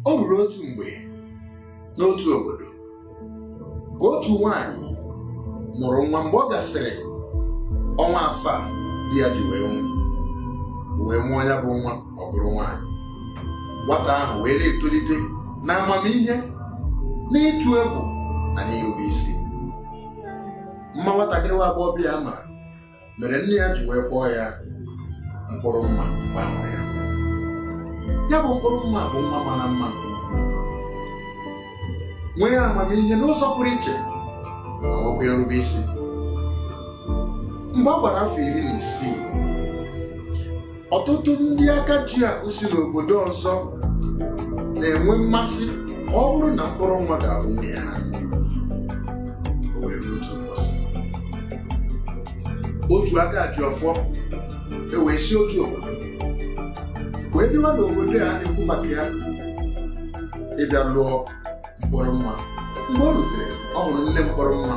o ruru otu mgbe n'otu obodo ka otu nwaanyị mụrụ nwa mgbe ọ gasịrị ọnwa asaa di ya ji wee nwụ wee mụọ ya bụ nwa ọ bụrụ nwaanyị nwata ahụ wee na-etolite na amamihe n'ịtụ egwu na n'irube isi mma nwatakịrị nwa agbọghọbịa a mara mere nne ya ji wee kpọọ ya mkpụrụ mma mgbe a mụrụ ya ya bụ mkpụrụ mma bụ nwa mara mma nke ukwuu nwee amamihe n'ụzọ pụrụ iche ma nwekwa irube isi mgbe ọ gbara afọ iri na isii ọtụtụ ndị aka ji akụ si n'obodo ọzọ na-enwe mmasị ọ bụrụ na mkpụrụ mma ga-abụ nwunye ha O wee ruo otu ụbọchị. otu aka ji ọfọ ewee si otu obodo wee bịawa n'obodo a na-ekwu maka ya ịbịa lụọ mkpụrụ mma mgbe o rutere ọ hụrụ nne mkpụrụ mma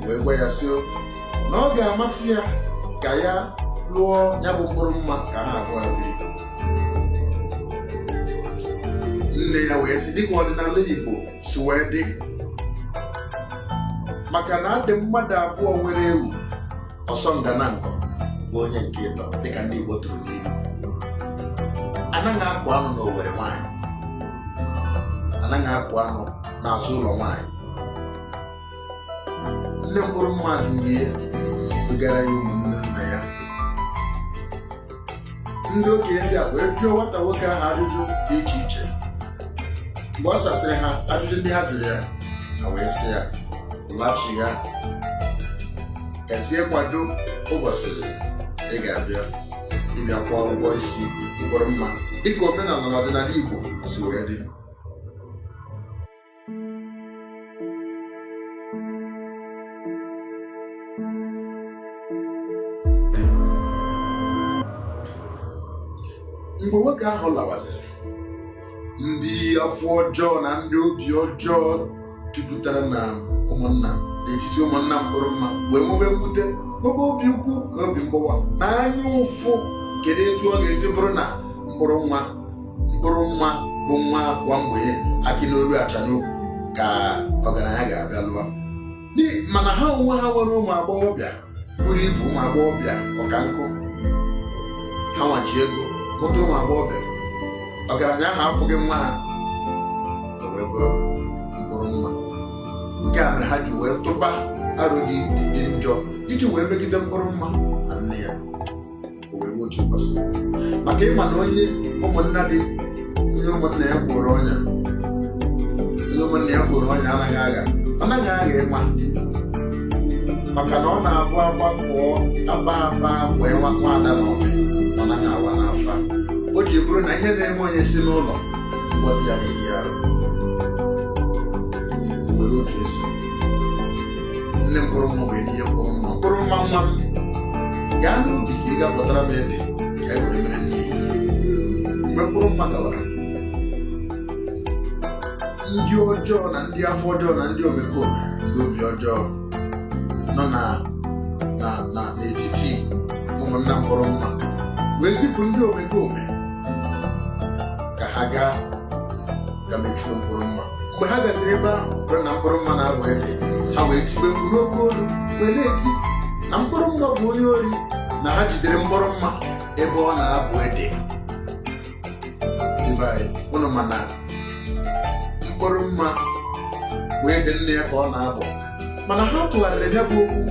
wee gwa ya sị na ọ ga-amasị ya ka ya lụọ ya bụ mkpụrụ mma ka ha abụọ biri nne ya wee sị dịka ọdịnala Igbo si wee dị maka na adị mmadụ abụọ nwere ewu ọsọnda na nkọ bụ onye nke ịtọ dịka ndị Igbo tụrụ n'ilu anaghị akụ anụ n'owere nwaanyị anaghị akụ anụ n'azụ ụlọ nwaanyị nne mkpụrụ mma durie dugara ya ụmụnne ndị okenye ndị a wee jụọ nwata nwoke ahụ ajụjụ dị iche iche mgbe ọ sasịrị ha ajụjụ ndị ha jụrụ ya ha wee sị ya laghachi ya gazie kwado ụbọchị ị ga-abịa ịbịa kwụọ ụgwọ isi mkpụrụ mma dịka omenala na ọdịnala Igbo si wee dị mgbe nwoke ahụ lawaziri ndị afọ ọjọọ na ndị obi ọjọọ jupụtara na ụmụnna n'etiti ụmụnna mkpụrụ mma wee nwebe mwute nwebe obi ukwu na obi mgbawa na anya ụfụ kedu etu ọ ga-esi bụrụ na mkpụrụ mma mkpụrụ mma bụ nwa agwa mgbenye akị n'olu acha n'ukwu ka ọgaranya ga-abịa lụọ mana ha onwe ha nwere ụmụ agbọghọbịa buru ibu ụmụ agbọghọbịa ọka nkụ ha nwa ji ego mụta ụmụ agbọghọbịa ọgaranya ahụ afụghị nwa ha o wee bụrụ mkpụrụ mma nke a mere ha ji wee tụba aro dị njọ iji wee megide mkpụrụ mma na nne ya o wee nwee otu mbọsị maka ịma na onye ụmụnna dị onye ụmụnna ya gboro ọnya onye ụmụnna ya gboro ọnya anaghị agha anaghị agha ịma maka na ọ na-abụ agbakọ agba agba wee nwa ada na ọmị ọ naghị awa n'afa o ji bụrụ na ihe na-eme onye si n'ụlọ mgbọdụ ya ga-eyi arụ were otu esi nne mkpụrụ mma wee zie mkpụrụ mma mkpụrụ mma nwa m gaa n'ubi ka ị ga bụtara m ede ka e were mere nni mgbe mkpụrụ mma gawara ndị ọjọọ na ndị afọ ọjọọ na ndị omekome ndị obi ọjọọ nọ na na na n'etiti ụmụnna mkpụrụ mma wee zipụ ndị omekome ka ha gaa ga mechuo mkpụrụ mma mgbe ha gaziri ebe ahụ bụrụ na mkpụrụ mma na-abụ ede ha wee tibe mkpu n'oke olu wee na-eti na mkpụrụ mma bụ onye ori na ha jidere mkpụrụ mma ebe ọ na-abụ ede Ndị be anyị, unu ma na mkpụrụ mma bụ ede nne ya ka ọ na-abụ mana ha tụgharịrị ya bụ okwu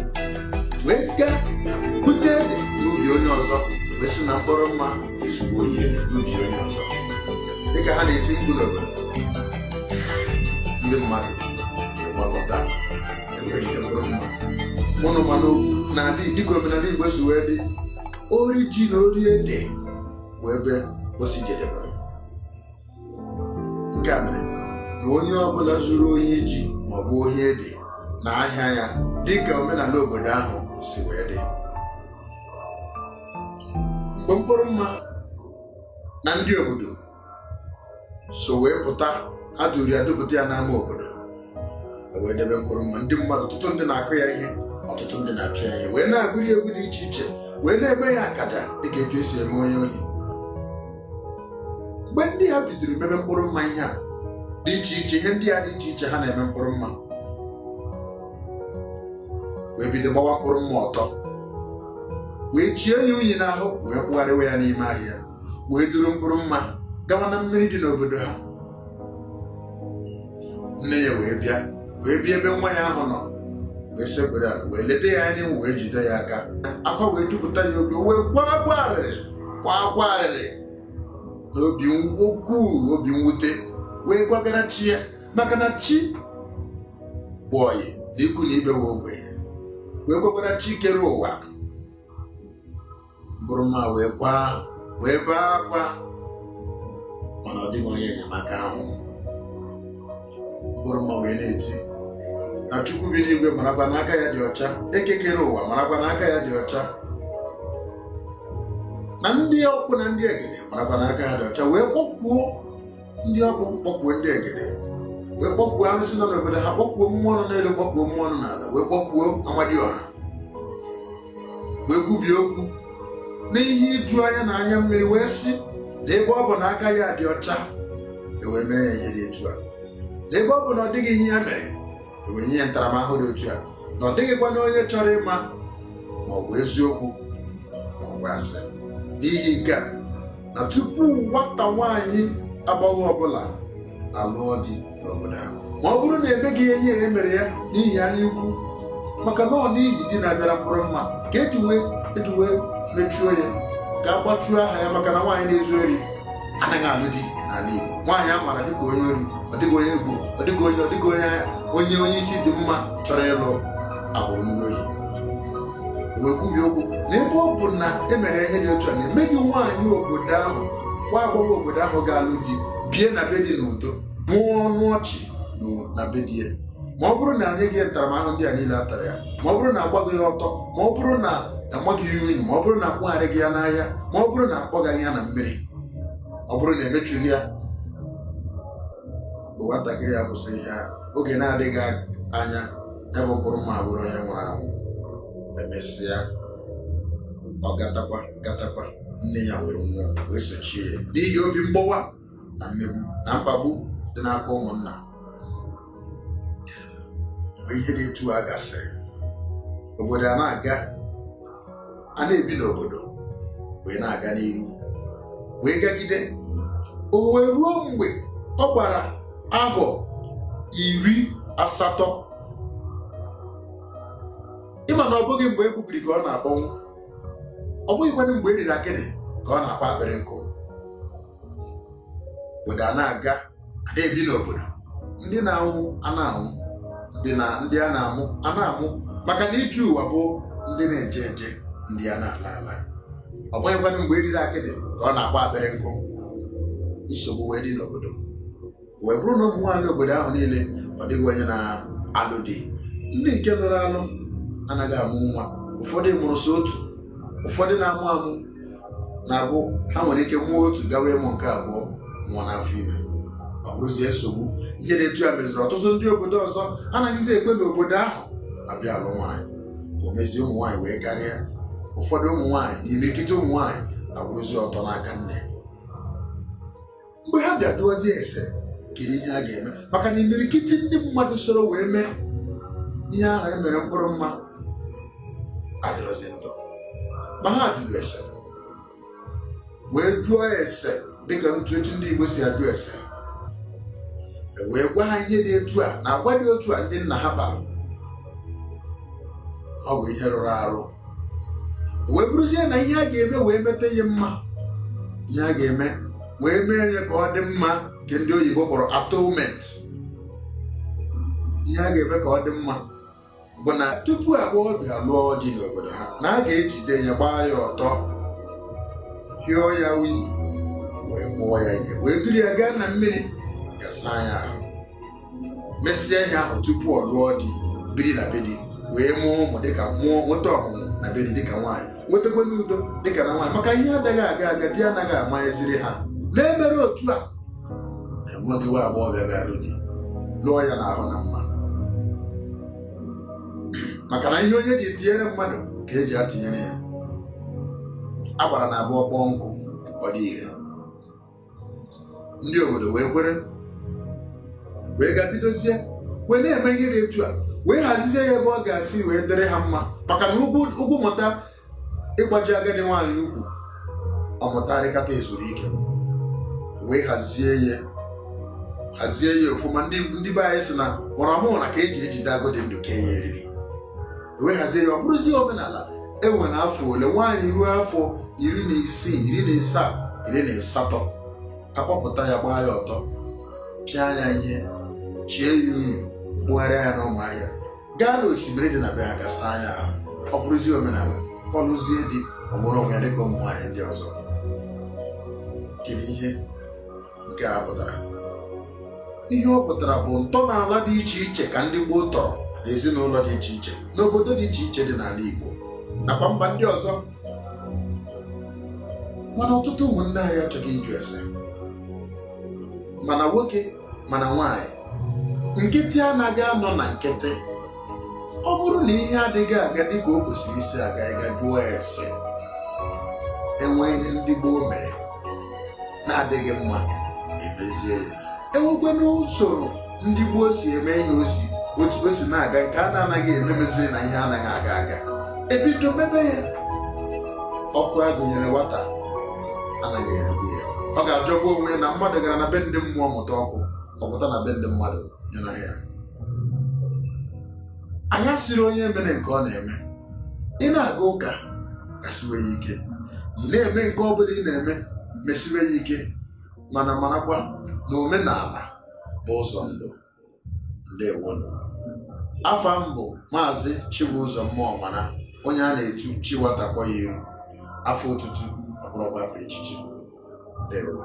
wee gaa bute ede n'ubi onye ọzọ wee sị na mkpụrụ mma ezugo ohi ede n'ubi onye ọzọ dịka ha na-eti mkpu n'obodo ndị mmadụ na-agbakọta e wee jide mkpụrụ mma ụnụ ma na okwu na-adị dịka omenala igbo si wee dị ori ji na ori ede bụ ebe o si jedebere nke a mere na onye ọbụla zuru ohi ji maọbụ ohi ede na ahịa ya dịka omenala obodo ahụ si wee dị mgbe mkpụrụ mma na ndị obodo so wee pụta ha duru ya dupụta ya n'ama obodo e wee debe mkpụrụ mma ndị mmadụ ọtụtụ ndị na-akụ ya ihe ọtụtụ ndị na-apịa ya ihe wee na-agụrụ ya egwu dị iche iche wee na-eme ya akaja dịka etu esi eme onye ohi mgbe ndị ha bidoro mebe mkpụrụ mma ihe a dị iche iche ihe ndị a dị iche iche ha na-eme mkpụrụ mma wee bido gbawa mkpụrụ mma ọtọ wee chie ya unyi n'ahụ wee kpụgharịwa ya n'ime ahịa wee duru mkpụrụ mma gawa na mmiri dị n'obodo ha nne ya wee bịa wee bịa ebe nwa ya ahụ nọ wee sekpere ala wee legide ya anya wee jide ya aka akwa wee jupụta ya obi wee kwa akwa arịrị kwa akwa arịrị n'obi ukwuu obi mwute wee gwagara chi ya maka na chi bụ ọyị na ikwu na ibe nwa ogbenye wee gwagara chi kere ụwa mkpụrụ mma wee kwaa wee bee akwa mana ọ dịghị onye enyemaka ahụ mkpụrụ mma wee na-eti na chukwu bi n'igwe marakwa na aka ya dị ọcha eke kere ụwa marakwa na aka ya dị ọcha na ndị ọkpụ na ndị egede marakwa na aka ya dị ọcha wee kpọkwuo ndị ọkpụ kpọkwuo ndị egede wee kpọkwuo arụsị nọ n'obodo ha kpọkwuo mmụọ nọ n'elu kpọkwuo mmụọ nọ n'ala wee kpọkwuo amadioha wee kwubie okwu n'ihe iju anya na anya mmiri wee sị na ebe ọ bụ na aka ya dị ọcha ewee mee ya ihe dị etu a na ebe ọ bụ na ọ dịghị ihe ya mere ewee nye ya ntaramahụhụ dị otu a na ọ dịghịkwa na onye chọrọ ịma ma ọ bụ eziokwu ma ọ bụ asị n'ihi nke a na tupu nwata nwaanyị agbọghọ ọbụla alụọ di n'obodo ahụ ma ọ bụrụ na emeghị ihe ihe e mere ya n'ihi anya ukwu maka na ọ n'ihi di na-abịara mkpụrụ mma ka eji wee eji wee mechuo ya ka a gbachuo aha ya maka na nwaanyị na-ezu ori anaghị alụ di n'ala Igbo nwaanyị a maara dịka onye ori ọ dịghị onye Igbo ọ dịghị onye ọ dịghị onye onye onye isi dị mma chọrọ ịlụ agbụrụ ndị ohi wee kwubie okwu na ebe ọ bụ na emere ihe dị otu a na enweghị nwaanyị obodo ahụ nwa agbọghọ obodo ahụ ga-alụ di bie na be di n'udo mụọ ọnụ ọchị na be di ya ma ọ bụrụ na enyeghị ntaramahụhụ ndị a niile a tara ya ma ọ bụrụ na agbaghị ya ọtọ ma ọ bụrụ na amaghị ya unyi ma ọ bụrụ na akpụgharịghị ya n'ahịa ma ọ bụrụ na akpọgaghị ya na mmiri ọ bụrụ na emechughị ya bụ nwatakịrị a kwusịrị ya oge na-adịghị anya ya bụ mkpụrụ mma bụrụ onye nwụrụ anwụ emesịa ọ gatakwa gatakwa nne ya wee nwụọ wee sochie ya n'ihi obi mgbawa na mmegbu na mkpagbu dị n'aka ụmụnna mgbe ihe dị etu a gasịrị obodo a na-aga a na-ebi n'obodo wee na-aga n'iru wee gagide o wee ruo mgbe ọ gbara ahọ iri asatọ ị ma na ọ bụghị mgbe e gbubiri ka ọ na-akpọnwụ ọ bụghịkwanụ mgbe eriri akịdị ka ọ na-akpọ akpịrị nkụ obodo a na-aga a na-ebi n'obodo ndị na-anwụ a na-anwụ ndị na ndị a na-amụ a na-amụ maka na ije ụwa bụ ndị na-eje eje ndị a na-ala ala ọ bụghịkwanụ mgbe eriri akịdị ka ọ na-akpọ akpịrị nkụ nsogbu wee dị n'obodo wee bụrụ na ụmụ nwaanyị obodo ahụ niile ọ dịghị onye na-alụ di ndị nke lụrụ alụ anaghị amụ nwa ụfọdụ mụrụ so otu ụfọdụ na-amụ amụ na-abụ ha nwere ike mụọ otu gawa ịmụ nke abụọ nwụọ n'afọ ime ọ bụrụzie nsogbu ihe dị etu a meziri ọtụtụ ndị obodo ọzọ anaghịzi ekwe n'obodo ahụ abịa alụ nwaanyị o mezie ụmụ nwaanyị wee karịa ụfọdụ ụmụ nwaanyị na imirikiti ụmụ nwaanyị abụrụzi ọtọ n'aka nne mgbe ha bịa jụọzie ese kedu ihe a ga-eme maka na imirikiti ndị mmadụ soro wee mee ihe ahụ e mere mkpụrụ mma adịrọzi ndụ ma ha jụrụ ese wee jụọ ese dịka ntụ etu ndị Igbo si ajụ ese e wee gwa ha ihe dị etu a na agwa dị otu a ndị nna ha kpara ọ bụ ihe rụrụ arụ wee bụrụzie na ihe a ga-eme wee meta ya mma ihe a ga-eme wee mee ya ka ọ dị mma nke ndị oyibo kpọrọ atonement ihe a ga-eme ka ọ dị mma bụ na tupu agbọghọbịa lụọ di n'obodo ha na a ga-ejide ya gbaa ya ọtọ hịọ ya unyi wee kpụọ ya ihe wee duru ya gaa na mmiri ga saa ya ahụ mesịa ihe ahụ tupu ọ lụọ di biri na be di wee mụọ ụmụ dịka mụọ nweta ọmụmụ na be di dịka nwaanyị nwetakwa udo dịka na nwaanyị maka ihe adịghị aga aga di anaghị amanyeziri ha na-emere otu a enweghị nwa agbọghọbịa ga-alụ di lụọ ya n'ahụ na mma maka na ihe onye ji tụnyere mmadụ ka eji atụnyere ya a gbara na abụọ kpọọ nkụ ọ dị ire ndị obodo wee kwere wee ga bidozie wee na-eme ihe dị etu a wee hazizie ya ebe ọ ga-esi wee dịrị ha mma maka na ugwu mụta ịgbaji agadi nwaanyị ukwu ọ mụta arịkata ezuru ike wee hazie ya hazie ya ofụma ndị be anyị si na mụramụra ka eji ejide agụ dị ndụ kenye eriri e wee hazie ya ọ bụrụzie omenala e nwere afọ ole nwaanyị ruo afọ iri na isii iri na isaa iri na asatọ a kpọpụta ya gbaa ya ọtọ pịa ya ihe chie ya unyi kpụgharịa ya n'ọma ahịa gaa n'osimiri dị na be ha ga saa ya ahụ ọ bụrụzie omenala ọ lụzie di o nwere onwe ya dịka ụmụ nwaanyị ndị ọzọ kedu ihe nke a pụtara ihe ọ pụtara bụ ntọala dị iche iche ka ndị gboo tọrọ na ezinụlọ dị iche iche n'obodo dị iche iche dị n'ala Igbo nakwa mba ndị ọzọ mana ọtụtụ ụmụnne anyị achọghị ịjụ ese mana nwoke mana nwaanyị nkịtị anaghị anọ na nkịtị ọ bụrụ na ihe adịghị aga dịka o kwesịrị isi aga ị ga jụọ ese e nwee ihe ndị gboo mere na-adịghị mma emezie ya e nwekwanụ usoro ndị gboo si eme ihe o si otu o si na-aga nke a na-anaghị eme meziri na ihe anaghị aga aga ebido mebe ya ọkụ a gụnyere nwata anaghị eregbu ya ọ ga-ajọkwa onwe na mmadụ gara na be ndị mmụọ mụta ọkụ ọ pụta na be ndị mmadụ nyụna ya anyị sịrị onye mere nke ọ na-eme ị na-aga ụka gasiwe ya ike ị na-eme nke ọ bụla ị na-eme mesiwe ya ike mana marakwa na omenala bụ ụzọ ndụ ndewonụ afa m bụ maazị Chibụzọ mmụọ mana onye a na-etu chiwatakpọ ya iru afa otutu ọ bụrụkwa afa echichi ndewo